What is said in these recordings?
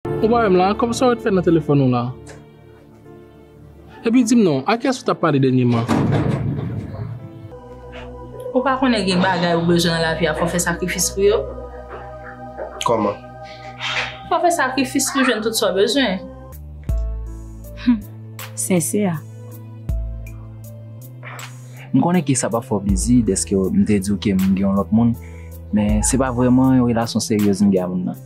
Ou pa wè m la, kòm sa ou ret fè nan telefòn ou la? Epi di m non, a kiyès ou t ap pale dènyeman? Ou pa konnen gen bagay ou bezwen nan lavi a fò w fè sakrifis pou yo? Kòman? Fò w fè sakrifis pou w jwenn tout sa w bezwen. Hum! Sensè a. M konnen ke sa pa fè w plezi dèske m te di w ke m gen yon lòt moun, men se pa vrèman yon relasyon seryez m gen ak moun nan.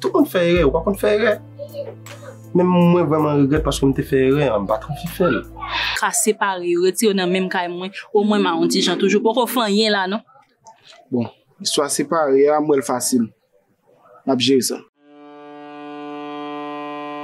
Tout moun fè erè, ou pa konn fè erè? Men mwen vreman regrèt paske m te fè erè an, m pa t anvi fè l. Ka separe yo, retire yo nan menm kay mwen, omwen m a yon ti jan toujou. Poko fè anyen la non. Bon, istwa separe a, m wè l fasil. N ap jere sa.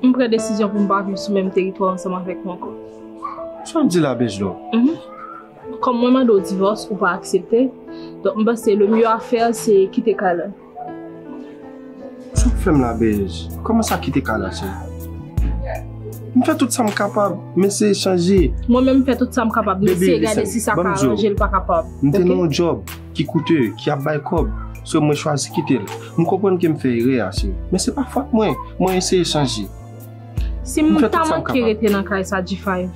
M pran desizyon pou m pa viv sou menm teritwa ansanm avèk ou ankò. Sa w di la Bejlo? Mph. Kòm mwen mande w divòs, ou pa aksepte, donk m panse le mye afè a se kite kay la. Sa w fè m la Bej? Kòman sa kite kay la cheri? M fè tout sa m kapab, m eseye chanje. Mwen menm m fè tout sa m kapab, m eseye gade si sa ka aranje l pa kapab. Baby listen, m te nan yon djòb. ki koute, ki ap bay kòb, so mwen chwazi kite l. M konprann ke m fè erè a, cheri, men se pa fòt mwen. Mwen eseye chanje. Si m ta manke rete nan kay sa G5,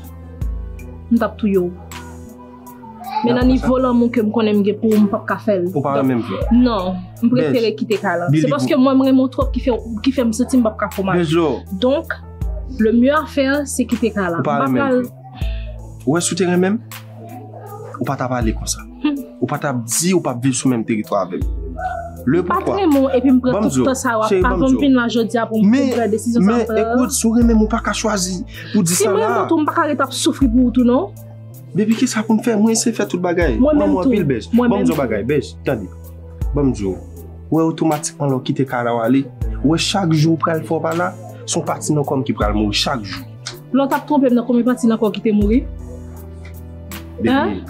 m t ap touye w. Men nan nivo lanmou ke m konnen m gen pou ou, m p ap ka fè l. Ou pa renmen m vre? Non. M prefere kite kay lan. Se paske mwen m renmen w twòp ki fè m santi m p ap ka fè w mal. Donk, le mye a fè se kite kay lan. Ou pa renmen m vre? Ou wè si w te renmen m? ou pa tap ale konsa. Ou pa tap di ou pap viv sou menm teritwa avèm. Le poukwa. Mpa renmen ou epi mpran tout tan sa wap pa vòm vin la jodia pou mpran desizyon sa mpran. Men, men, ekout, si ou renmen m ou pa ka chwazi pou di sa la. Si mrenmen ou tou mpaka ret ap soufri pou ou tou non. Baby kisa poun fè? Mwen se fè tout bagay. Mwen menm tou. Mwen anpil bèj. Mwen menm tou. Banm di ou yon bagay bèj, tande. Banm di ou, ou wè otomatikman lè ou kite kay la wale, ou wè chak jou ou pral fè ou pa la, son pati nan kòm ki pral mouri chak jou. La w tap twonpe m nan konbyen pati nan kò w ki te mouri? Depi.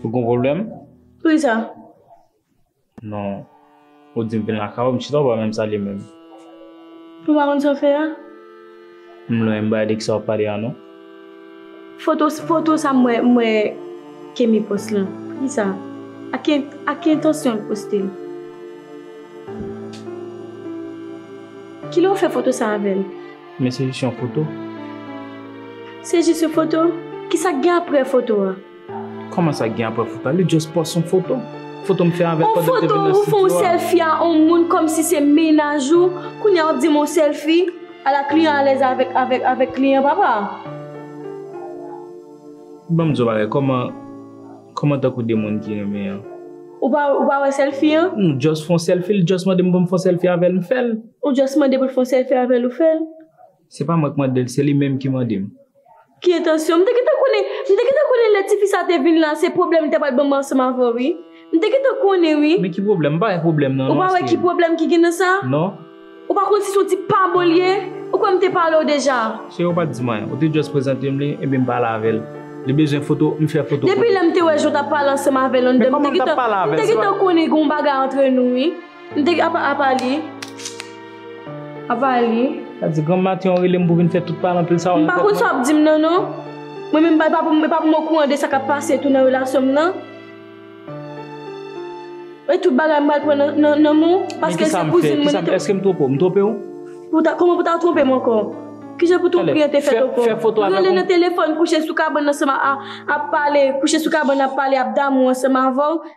Ou gen pwoblèm? Poukisa? Non. Ou di m vin lakay ou, m chita ou pa menm salye m menm. Ou pa konn sa w fè a? M lwen, m pa tande ki sa w ap pale a non. Foto, foto sa m wè, m wè Kemi pòs lan. Poukisa? Ak ki, ak ki entansyon l poste l? Kilè ou fè foto sa avè l? Men se jis yon foto. Se jis yon foto? Kisa k gen aprè foto a? Koman sa gen apre fouta li just post yon foto Fotom fè avèl pandan mte vin nan studio a. On foto ou fè yon selfie a on moun komsi se mennaj ou kounya wap dim on selfie ala kliyan alèz avèk kliyan papa. Banm di w yon bagay koman koman tankou de moun ki renmen an. Ou pa wè selfie an? M just fon selfie li just mandem poum fon selfie avèl mfèl. Ou just mande poul fon selfie avèl ou fèl. Se pa mwen k mande l, se li menm ki mande m. Ki entansyon? M te gentan konnen, m te gentan konnen lè tifi sa te vin la se pwoblèm li ta pral ban m ansanm avè w wi. M te gentan konnen wi. Men ki pwoblèm? M pa wè pwoblèm nan non Esther. Ou pa wè ki pwoblèm ki gen nan sa? Non. Ou pa konn si son ti pa bon li ye? Ou kwè m te pale w deja? Cheri ou pa t di m anyen, ou te just prezante m li enben m pale avè l. Li bezwen foto, m fè foto pou li. Depi lè m te wè jan w t ap pale ansanm avè l anndan m te gentan, m te gentan konnen gen yon bagay antre nou wi. M te gen apa apa li. Apa li. Sa di granm Matyon an rele m pou vin fè tout palan pil sa yo. M pa konn sa w ap di m nan non. Mwen menm e pa pou m okouran de sa k ap pase tou nan relasyon m nan. E tout bagay m pral pran nan nan men w. Paske se kouzin mwen. Men ki sa m fè? Eske m twonpe w? M twonpe w? Kouman pou w ta twonpe m ankò? Ki jan pou twonpery an te fèt ankò? Fè foto avè m. Rele nan telefòn, kouche sou kabann ansanm a ap pale, kouche sou kabann ap pale, ap damou ansanm avè w.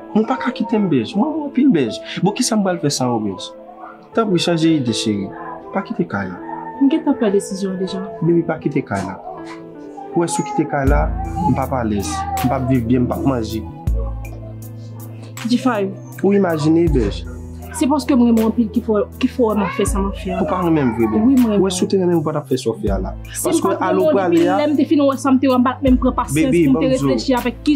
Mwen pa ka kite m bèj. Mwen gen anpil bèj. Bon kisa m pral fè san ou bèj? Tanpri chanje ide cheri. Pa kite kay la. M gentan pran desizyon an deja. Bebe pa kite kay la. Ou wè si ou kite kay la, m pap alèz. M pap viv byen, m pap manje. G5. Ou imajine bèj. Se paske m renmen w anpil ki fè w wè m ap fè sa m ap fè a. Ou pa renmen m vre bebe. Wi m renmen w. Ou wè si ou te renmen m ou pa t ap fè sa w fè a la. Si m pa t renmen w depi lè m te fin wè sa m te wè m pa t menm pran pasyans pou m te reflechi avèk ki.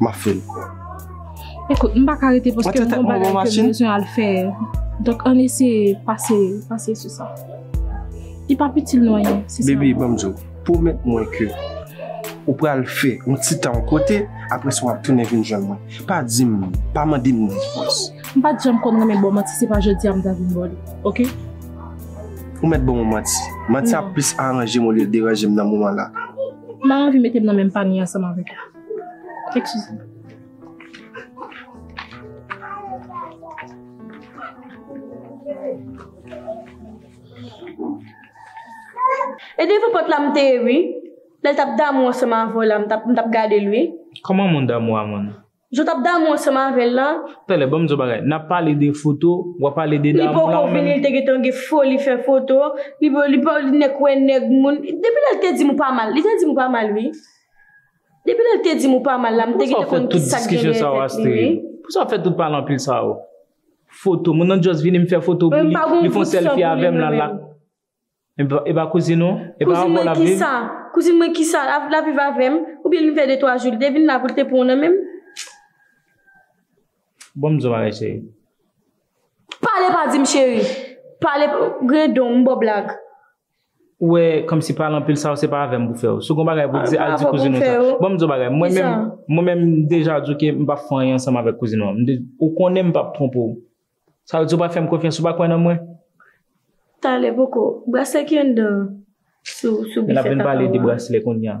Map fel bro. Ekout m pa ka rete paske m gon bagay ke m bezwen al fè. Donk ann eseye pase, pase sou sa. Li pap itil nou anyen. Bebe ban m di w, pwomèt mwen ke ou pral fè yon ti tan yon kote, apre sa w ap tounen vin jwenn mwen. Pa di m, pa mande m nan fòs. M pat janm konn renmen ba w manti se pa jodi a m ta vin ba w li. Ok? Ou mèt ban mwen manti. Manti a plis aranje m olye l deranje m nan moman la. M pa anvi mete m nan menm panye ansanm avèk ou. E devan pòt la m te ye wi. Lè l t ap damou ansanm avè w la, m t ap gade l wi. Kòman moun damou a moun? Jan w t ap damou ansanm avè l la. Talè, ban m di w yon bagay. N ap pale de foto, w ap pale de damou la. Li poko vini, li te gentan gen foli fè foto. Li pa, li pa, nèg wè nèg moun. Depi lè l te di m ou pa mal, li te di m ou pa mal wi. Depi lèl te dim ou pa mal la m te gentan konn ki sak genyen tèt li wi. Pousa wap fè tout pale anpil sa yo. Foto, moun nan just vini m fè foto pou li, li fon selfie avèm lal la. Epa kouzin ou? Epa avèw lap viv? Kouzin mwen kisa? Lap viv avèm? Oubyen li fè 2 3 jou li te vin la pou li te pranw nan menm? Banm zo bagay cheri. Pale pa dim cheri. Pale, grendon, m baw blag. Ou wè kòmsi pale anpil sa yo se pa avè m pou fè yo. Si w gen bagay pou w di, al di kouzin w sa. Ban m di w yon bagay, mwen menm, mwen menm m deja di w ke m pa fè anyen ansanm avèk kouzin w an. M di, ou konnen m pa p twonpe w. Sa vle di ou pa fè m konfyans, ou pa kwè nan mwen? Talè poko. Braslè ki anndan an sou bifè papa w la. N ap vin pale de braslè kounya.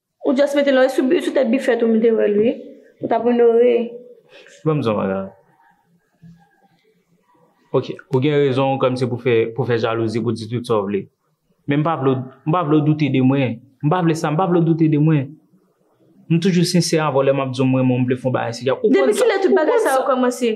Ou just mete lòy sou sou tèt bifèt ou m te wèl wi ou tap onore. Banm zong la. Ok ou gen rezon kòm se pou fè pou fè jalouzi pou di tout sa w vle men m pa vle w m pa vle w doute de mwen m pa vle sa m pa vle w doute de mwen m toujou sensè avè w lè map di w m renmen w m vle fon bagay serye ak ou. Depi kilè tout bagay sa yo kòmanse?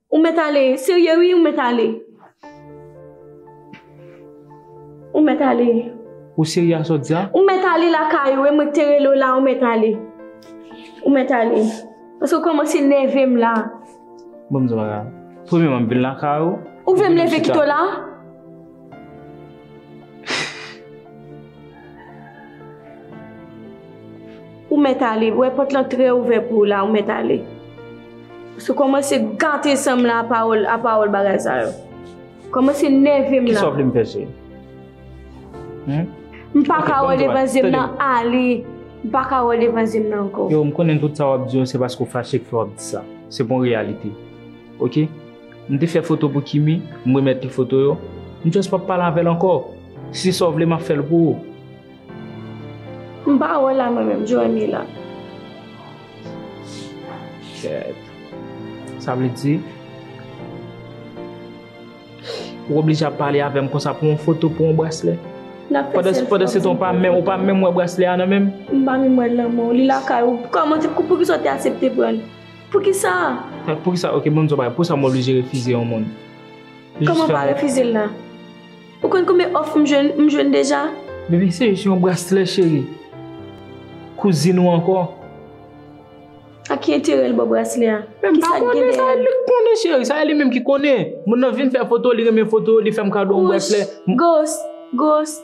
Ou mèt ale, serye wi ou mèt ale. Ou mèt ale. Ou serye a sòt dya? Ou mèt ale lakay ou e mwen ki te rele w la ou mèt ale. Ou mèt ale. Paske ou kòmanse nève m la. Bon m di w bagay. Premyèman m vin lakay ou. Ou vle m leve kite w la? Ou mèt ale, ou wè pòt lan trè ouvè pou ou la, ou mèt ale. Ou se kòmanse gate san m la a pawòl, a pawòl bagay sa yo. Ou kòmanse nève m la. Kisa w vle m fè sou li? M pa ka wè devan zye m nan, ale. M pa ka wè devan zye m nan ankò. Yo, m konnen tout sa w ap di yo se paske w fache ki fè w ap di sa. Se pa yon reyalite. Ok? M te fè foto pou Kimi, m remèt li foto yo. M just pap pale avè l ankò. Si se sa w vle, m ap fè l pou ou. M pa wè l la mwen menm, Joemy la. Kèèt. Sa vle di, ou oblije ap pale avè m konsa pou yon foto, pou yon braslè? N ap fè selfie. Pandan se tan ou pa menm wè braslè a nan men m? M pa menm wè l nan men w. Li lakay ou. Kòman, poukisa w te asepte pran l? Poukisa? Poukisa ok banm di w yon bagay poukisa m oblije refize yon moun? Kòman pa refize l la? Ou konn konbyen òf m jwenn m jwenn deja? Bebe se jis yon braslè cheri. Kouzin ou ankò. A ki enterè l ba w braslè a? Men m pa konnen sa li konnen cheri sa e li menm ki konnen. Moun nan vin fè foto li renmen foto li fè m kado yon braslè. Ghost! Ghost!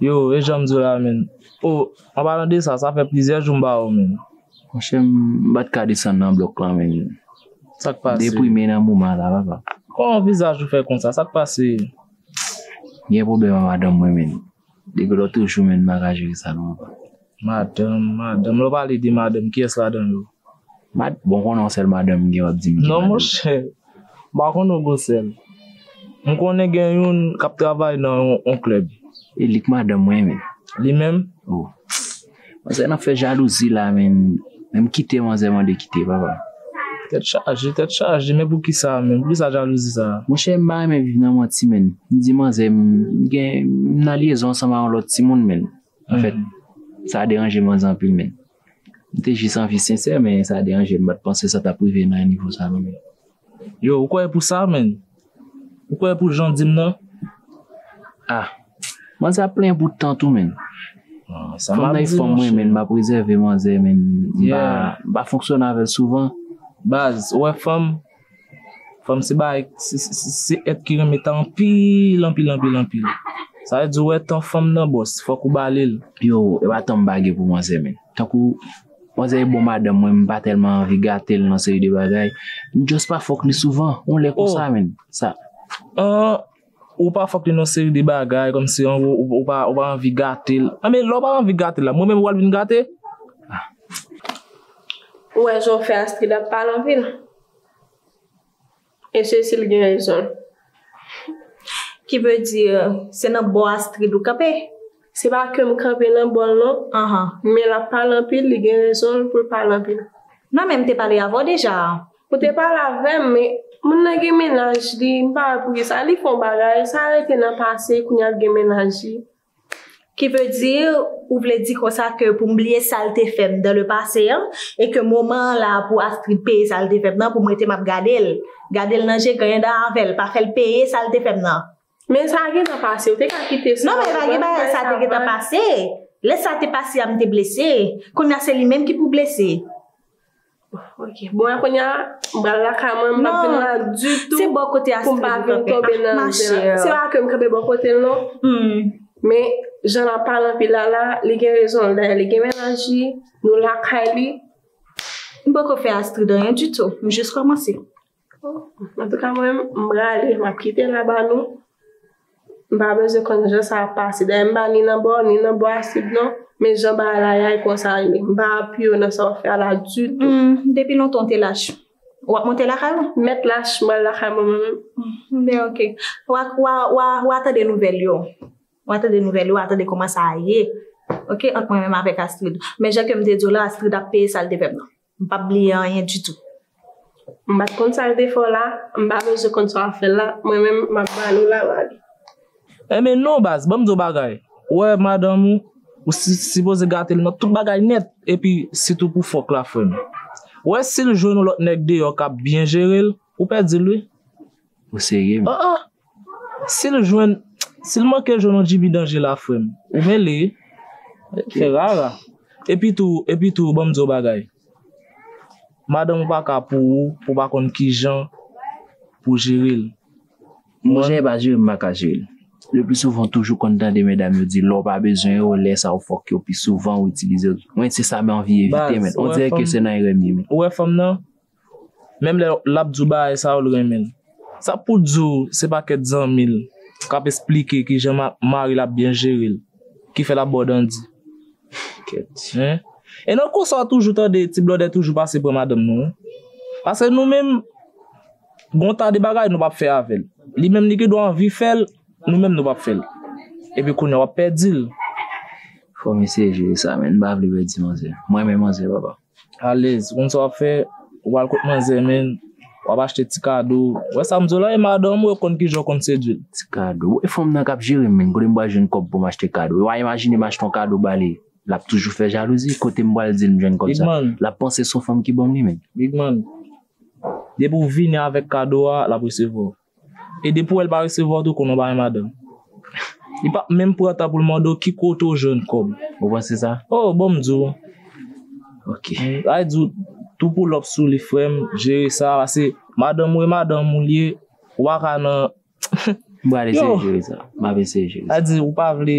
Yo, e janm diw la menn. Oh, an palan de sa, sa fè plizyè jou m pa wèw menn. Monchè m pat ka desann nan blòk lan menn. Sak pase? M deprime nan moman an la papa. Kòman vizaj ou fè konsa, sak pase? M gen pwoblèm a madanm mwen menn. Depi lotrejou menn m paka jere sa non papa. Madanm, madanm, lè w pale de madanm, kiyès ladan yo? Mad, bon konnen yon sèl madanm m gen w ap di m ki madanm. Non monchè, m pa konnen w gen sèl. M konnen gen youn k ap travay nan yon klèb. E li k madanm mwen menm. Li menm? O. Manzè nan fè jalouzi la menm. Menm m kite manzè mande kite papa. Tèt chaje, tèt chaje, men poukisa menm? Poukisa jalouzi sa a? Monchè m pa renmen viv nan manti menn. M di manzè m gen, m nan lyezon ansanm a yon lòt timoun menn. Anfèt, sa deranje manzè anpil menn. M te jis anvi sensè men sa deranje m, m pa t panse sa t ap rive nan nivo sa non menn. Yo, ou kwè pou sa menn? Ou kwè pou jan w di m nan? Ah! Manzè ap plenyen pou tant ou menn. Sa m ap di nou chè. Fanm nan e fanm mwen menn, m ap rezève manzè menn, m pa fonksyone avè l souvan. Baz, ou wè fanm? Fanm se bagay, se èt ki renmen tan anpil, anpil, anpil, anpil. Sa vle di ou wè tan fanm nan bòs, fòk ou ba li l. Yo, e pa tan m bagy pou manzè menn. Tankou, manzè e bon madanm mwen, m pa tèlman anvi gate l nan seri de bagay. M just pa fòk li souvan, yon lè konsa menn. Sa. An. Ou pa fòk li nan seri de bagay kòm si angwo ou pa anvi gate l. Anben lè w pa anvi gate l la mwen menm ou pral vin gate? Ou wè jan w fè Astride ap pale anpil? E Sesil gen rezon l. Ki ve di se nan bò Astride ou kanpe? Se pa ke m kanpe nan bò l non. Men l ap pale anpil li gen rezon l pou l pale anpil. Mwen menm te pale avè w deja. Ou te pale avèm men moun nan gen mennaj li m pa wè poukisa li fon bagay sa rete nan pase kounya l gen mennaj li. Ki vle di ou vle di konsa ke pou m bliye sal te fèm dan le pase an e ke moman an la pou Astrid peye sal te fèm nan pou m rete map gadel gadel nan je ganyan dan avèl pa fèl peye sal te fèm nan. Men sa gentan pase, ou te ka kite sa. Non men pa gen bagay sa te gentan pase. Lè sa te pase a m te blese. Kounya se li menm ki pou blese. Ok, bon a kounya m pral lakay mwen m pap vin la ditou. Se bò kote Astrid m kanpe. Pou m pa vin tonbe nan zen an. Se pa ke m kanpe bò kote l non. Men jan l ap pale anpil la la, li gen rezon l. Dayè li gen mennaj li, nou lakay li. M poko fè Astrid anyen ditou. M jis kòmanse. Antouka mwen menm m rale map kite la ba nou m pa bezwen konn jan sa ap pase dayè m pa ni nan bò ni nan bò asid non men jan bagay la ye a e konsa l ye m pa apiye w nan sa wap fè a la ditou. Humm depi lontan w te lach wap monte lakay ou? M mèt lach mwen al lakay mwen mwen menm. Ben ok wa tande nouvèl yo wa tande nouvèl yo wa tande kòman sa ye ok ant mwen menm avèk Astrid men jan kem te di w la Astrid ap peye sal te fèm nan. M pap bliye anyen ditou. M pat konn sa l te fè w la, m pa bezwen konn sa w ap fè l la, mwen menm m ap ba nou laman li. Enben non baz, ban m di w bagay, ou wè madanm ou, ou sipoze gate l nan tout bagay nèt, epi sitou pou fòk la frè m. Ou wè si l jwenn yon lòt nèg deyò k ap byen jere l, ou pèdi l wi. Ou serye menm. Aa sil jwenn sil manke jwenn yon djibi danje la frèm ou mele fè rara epi tou epi tou banm diw bagay madanm ou pa ka pou ou pou pa konn kijan pou jerel Bon jan e pa jerem pa ka jerel. Le plus souvent ou toujou konn tande medam yo di lèw pa bezwen yo lè sa ou fòk yo pi souvan ou itilize yo mwen se sa m anvi evite men on dirè ke se nan erè m ye men. Ou wè fanm nan? Menm lè lap di w bagay sa ou renmenl. Sa pou w di w se pa kèt zanmi l kap esplike kijan mari l ap byen jere l ki fè lap ba w dandi. E nan konsa w toujou tande ti blòdè toujou pase pran madanm nou. Paske nou menm gon ta de bagay nou pap fè avèl. Li menm li gendwa anvi fèl nou menm nou pap fèl. Epi kounya wap pèdi l. Fò misye jere sa menn m pa vle pèdi manzè. M renmen manzè papa. Alez, ou konn sa wap fè, ou pral kot manzè menn, wap achte ti kado, wè sa m di w la e madanm ou e konn kijan ou konn sedwi l. Ti kado, e fanm nan kap jere m menn, kote m pral jwenn kòb pou m achte kado, e wa imajine m achte yon kado ba li, lap toujou fè jalouzi, kote m pral di l m jwenn kòb sa, lap panse son fanm ki banm li menn. Big man, depi w vini avèk kado a, lap resevwa w. E depi w wè l pa resevwa w tou konnen w pa gen madanm. Li pap menm pran tan pou l mande w ki kote w jwenn kòb. Ou panse sa? O, bon m di w. Ok. Bay di w tou poulòp sou li frè m, jere sa pase madanm ou e madanm ou l ye, ou pa ka nan. M pral eseye jere sa. M ap eseye jere sa. Sa vle di ou pa vle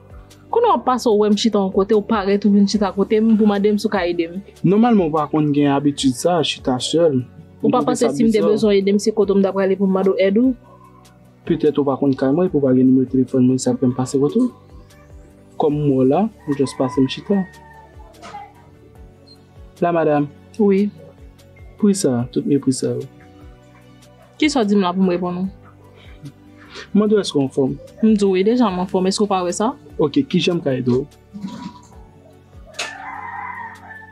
Kounye a w ap pase w wè m chita yon kote, w parèt ou vin chita kote m pou mande m si w ka ede m. Nòmalman ou pa konn gen abitid sa, chita sèl. Ou pa panse si m te bezwen ede m se kote w m ta prale pou m mande w èd ou? Petèt ou pa konn kay mwen epi w pa gen nimewo telefòn mwen sa k fè m pase kote w. Kòm m wè w la, ou jis pase m chita. La madam. Wi. Pri sa, tout mepri sa yo. Kisa w di m la pou m reponn ou? M mande w èske w anfòm? M di w wi deja m anfòm, èske w pa wè sa? Ok, kijan m ka ede w?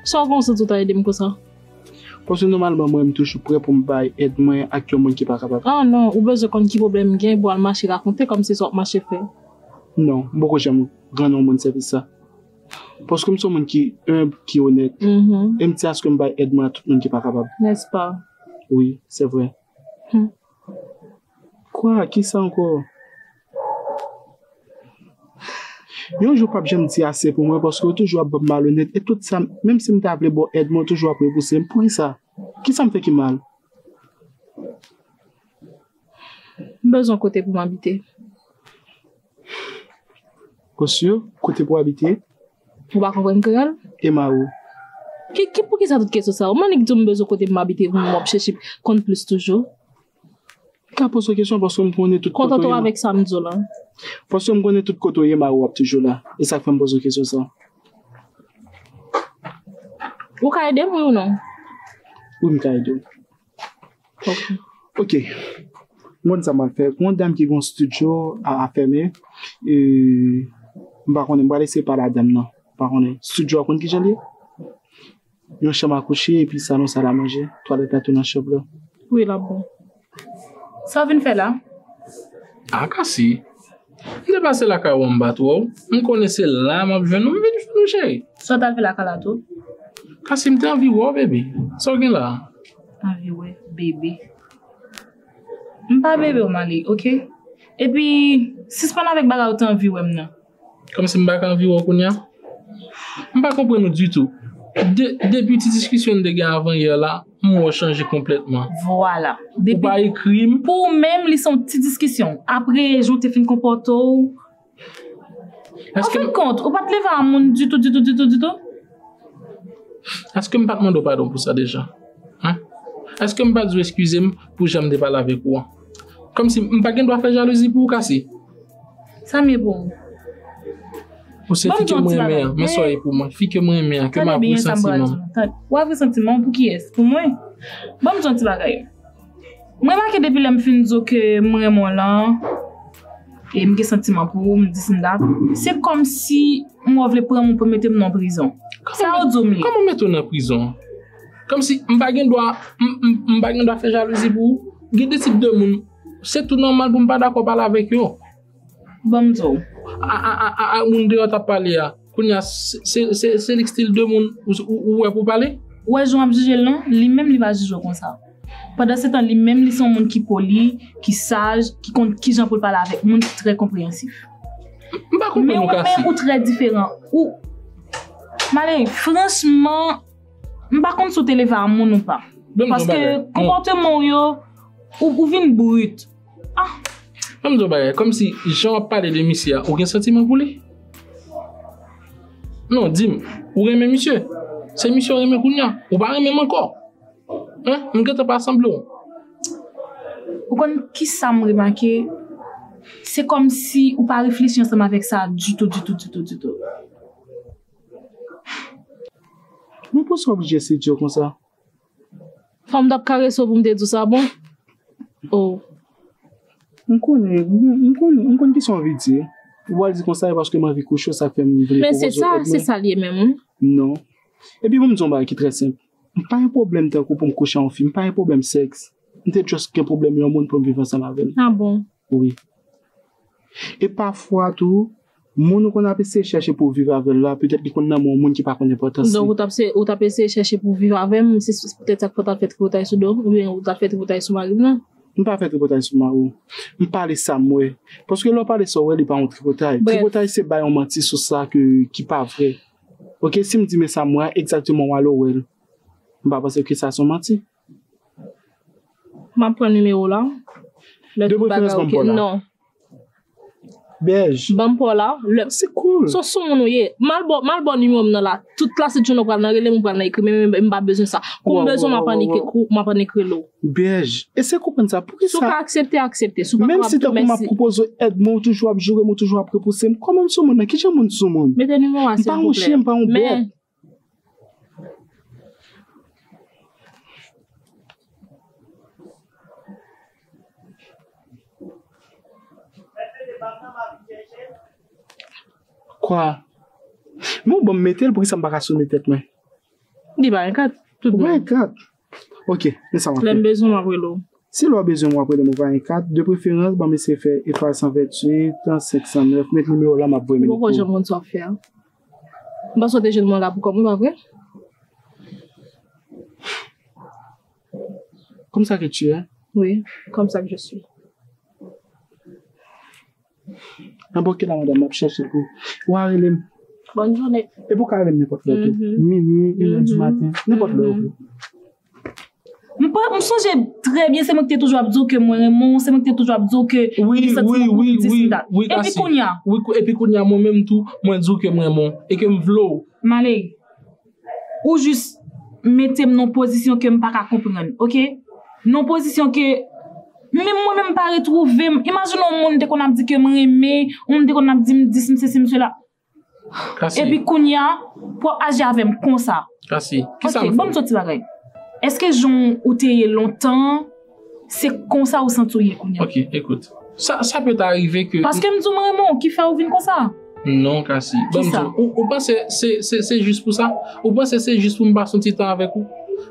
Sa w panse tou ta ede m konsa? Paske nòmalman mwen m toujou prè pou m bay èd mwen ak yon moun ki pa kapab. Ah non, ou bezwen konn ki pwoblèm m gen pou w al mache rakonte kòmsi sa w ap mache fè? Non, m poko janm rann yon moun sèvis sa. Paske m se yon moun ki enb, ki onèt. E m di aske m bay èd mwen a tout moun ki pa kapab. Nèspa? Wi, se vre. Hum. Kwa? Ki sa ankò? Yon jou pap janm di ase pou mwen paske ou toujou ap ban m malonèt e tout sa m, menm si m ta vle ba w èd mwen ou toujou ap repouse m. Poukisa? Ki sa m fè ki mal? M bezwen kote pou m abite. Kosyo, kote pou abite? Ou pa konprann kreyòl? Emao. Ki, ki, poukisa tout kesyon sa yo? Ou m'annik di w m bezwen kote pou m abite pou m w'ap chèche konn plis toujou? M ka poze w kesyon paske m konnen tout kote ou ye. Kontante w avèk sa m di w la. Paske m konnen tout kote ou ye Mao w'ap toujou la. E sa k fè m poze w kesyon sa. Ou ka ede m wi ou non? Wi m ka ede w. Ok, mwen konn sa mwen ap fè. Gon dam ki gon studio a afèmen, e m pa konnen, m pral eseye pale a dam nan. M pa konnen, studio a ou konn kijan l ye? Yon chanm a kouche epi salon, sal a manje, twalèt la tou nan chanm lan. Wi, l ap bon. Sa w vin fè la? Aka si, M te pase lakay ou anba twa w. M konnen se la m ap jwenn ou. M vin jwenn ou cheri. Sa w t al fè lakay la tou? Kasi m te anvi wè w bebe. Sa w gen la a? Anvi wè bebe. M pa bebe w Malick ok. Epi sispann avèk bagay ou te anvi wè m nan. Kòmsi m pa ka anvi wè w kounye a? M pa konprann ou ditou. Depi ti diskisyon n te gen avan yè la. M wè w chanje konplètman. Vwala. Ou pa ekri m. Pou ou menm li se yon ti diskisyon. Apre jan w te fin konpòte w. An fen kont, ou pa t leve a moun ditou ditou ditou ditou? Èske m pa t mande w padon pou sa deja? Hein? Èske m pa di w eskize m pou jan m te pale avèk ou an? Kòmsi m pa gen dwa fè jalouzi pou ou Cassie? Sa m ye pou ou? Ou se fi ke m renmen an. Men sa w ye pou mwen. Fi ke m renmen an. Ke m avwe santiman m. Ou avwe santiman w pou kiyès? Pou mwen? Ban m di w yon ti bagay. M remake depi lè m fin di w ke m renmen w lan, e m gen santiman pou ou, m di s m dap, se kòmsi m wè w vle pran m pou mete m nan prizon. Sa w di w m ye? Kòman mete w nan prizon? Kòmsi m pa gen dwa, m pa gen dwa fè jalouzi pou ou? Gen de tip de moun Se tou nòmal pou m pa dakò pale avèk yo. Ban m di w. A ak moun deyò w t ap pale a, kounye a se li ki stil de moun ou wè pou w pale? Ou wè jan w ap jije l lan, li menm li pa jije w konsa. Pandansetan li menm li se yon moun ki poli, ki saj, ki konn ki jan pou l pale avèk moun, ki trè konpreyansif. M pa konprann ou Kasi. Men ou menm ou trè diferan. Ou Malere, franchman, m pa konn si w te leve a moun ou pa. Paske konpòteman w yo. Ou vin brut. Ah! An m di w yon bagay, kòm si jan w ap pale de misye a, ou gen santiman pou li? Non, di m, ou renmen misye? Se misye w renmen kounye a? Ou pa renmen m ankò? Hein? M gentan pa sanble w. Ou konn kisa m remake? Se kòm si ou pa reflechi ansanm avèk sa ditou, ditou, ditou, ditou. Men poukisa w oblije si di yo konsa? Fòm tap kareso poum te diw sa bon oh. M konnen m konn kisa w anvi di ou pral di konsa e paske m anvi kouche w sa fè m vle pwopoze w èd mwen. Men se sa l ye menm wi. Non. Epi pou m di w yon bagay ki trè senp m pa gen pwoblèm tankou pou m kouche ak yon fi m pa gen pwoblèm sèks m te just gen pwoblèm yon moun pou m viv ansanm avè l. Ah bon. Wi. E pafwa tou Moun ou konn ap eseye chèche pou w viv avè l la, petèt li konn nan men yon moun ki pa konn enpòtans li. Donk ou tap ou tap eseye chèche pou w viv avè m, se petèt sa k fè w tap fè tripotay sou do m, oubyen ou tap fè tripotay sou mari m lan. M pa fè tripotay sou mari w. M pale sa m wè. Paske lè w pale sa w wè li pa yon tripotay. Brèf. Tripotay se bay yon manti sou sa ke ki pa vrè. Ok, si m di men sa m wè a, egzakteman w ale w wè l. M pa panse ke sa se yon manti. Map pran numéro w la. Lè tout bagay ok. Non. Bèj. Banm paw la. Se cool. Son sou moun ou ye. Mal baw, mal baw numéro m nan la. Tout klase jounen ou pral nan rele m ou pral nan ekri m men m pa bezwen sa. Kou m bezwen map annik ekou, map annik rele w. Bèj. Eseye konprann sa. Poukisa. Si w ka aksepte, aksepte. Si w pa kapab tou mèsi. Menm si tankou map pwopoze w èd men ou toujou ap joure m ou toujou ap repouse m. Kòman m sou moun nan? Kijan moun sou moun? Mete numéro a silvouplè. M pa yon chyen, m pa yon bèt. Kwa? Mwen bon metel pou ki sa m pa ka sone tèt mwen? Li pa yon kat tout bon. Mwen kat. Ok, men sa m ap fè. Lè m bezwen m ap rele w. Si lè w bezwen m w ap rele m ou pa gen kat, de preferans ban m eseye fè etwal 128, 509, met nimewo la m ap voye menm pou ou. Ou poko janm konn sa w ap fè a. M panse w te jwenn mwen la pou kòm wi pa vre? Comme ça que tu es? Wi, comme ça que je suis. Anbò kila madanm ap chèche pou wa rele m. Bòn jounen. Epi ou ka rele m nenpòt lè tou. Mimi, in è di maten, nenpòt lè ou vle. M sonje trè byen se mwen ki te toujou ap di w ke mwen renmen w, se mwen ki te toujou ap di w ke m gen santiman pou ou dis m dat. Wi, wi, wi, wi, wi, Kasi. Epi kounya? Wi, epi kounya mwen menm tou mwen di w ke m renmen w e ke m vle w. Male. Ou jis mete m nan pozisyon ke m pa ka konprann, ok. Nan pozisyon ke menm mwen menm m pa retwouve m. Imajine yon moun te konn ap di ke m renmen, yon moun te konn ap di m dis, m sesi, m sela. Kasi. Epi kounye a, pou w ap aji avè m konsa. Kasi, kisa m fè w? Ok, ban m ti yon ti bagay. Èske jan ou te ye lontan. Se konsa ou santi w ye kounya? Ok, ekout. Sa peut arrive ke... Paske m di w m renmen w ki fè ou vin konsa? Non, Cassy. Bon, m di w, ou panse se jis pou sa? Ou panse se jis pou m pase yon ti tan avèk ou?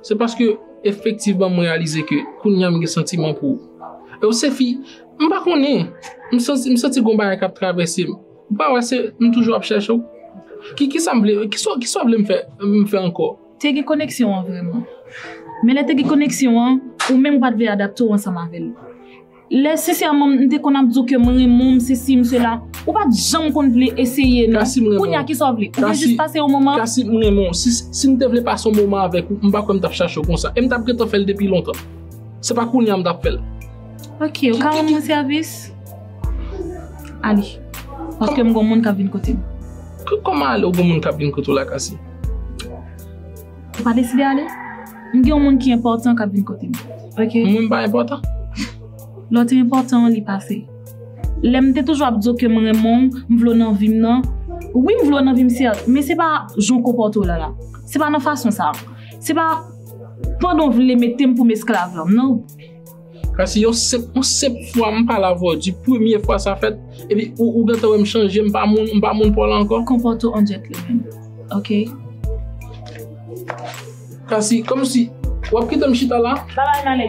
Se paske efektivman m reyalize ke kounya m gen santiman pou ou. E ou se fi, m pa konnen, m santi gen yon bagay k ap travèse m. Ou pa wè se m toujou ap chèche w? Kisa m vle, kisa w vle m fè ankò? Te gen koneksyon an vrèman. Men lè te gen koneksyon an, ou menm ou pa t vle adapte w ansanm avè l. Lè sensèman m te konn ap di w ke m renmen w, m sesi, m sela, ou pa t janm konn vle eseye non. Kounye a kisa w vle? Ou vle jis pase yon moman? Kasi, m renmen w. Si m te vle pase yon moman avèk ou, m pa kwè m t ap chache w konsa. E m t ap gentan fè l depi lontan. Se pa kounye a m t ap fè l. Ok, ou ka rann mwen sèvis? Ale. Paske m gen yon moun k ap vin kote m. Kòman ale ou gen yon moun k ap vin kote w la, Kasi? Ou pa deside ale? M gen yon moun ki enpòtan k ap vin kote m. Ok. Moun pa enpòtan? Lè w te enpòtan, li pase. Lè m te toujou ap di w ke m renmen w, m vle w nan vi m nan, wi m vle w nan vi m sèt, men se pa jan w konpòte w la la. Se pa nan fason sa a. Se pa pandan w vle mete m pou m esklav lan, non. Sa se yon senp, yon senp fwa m pale avè w di premye fwa sa fèt, epi ou gentan wè m chanje, m pa moun, m pa moun pa w la ankò. Konpòte w an djètlemenn, ok? Kasi, kòmsi, w ap kite m chita la? Babay, m ale.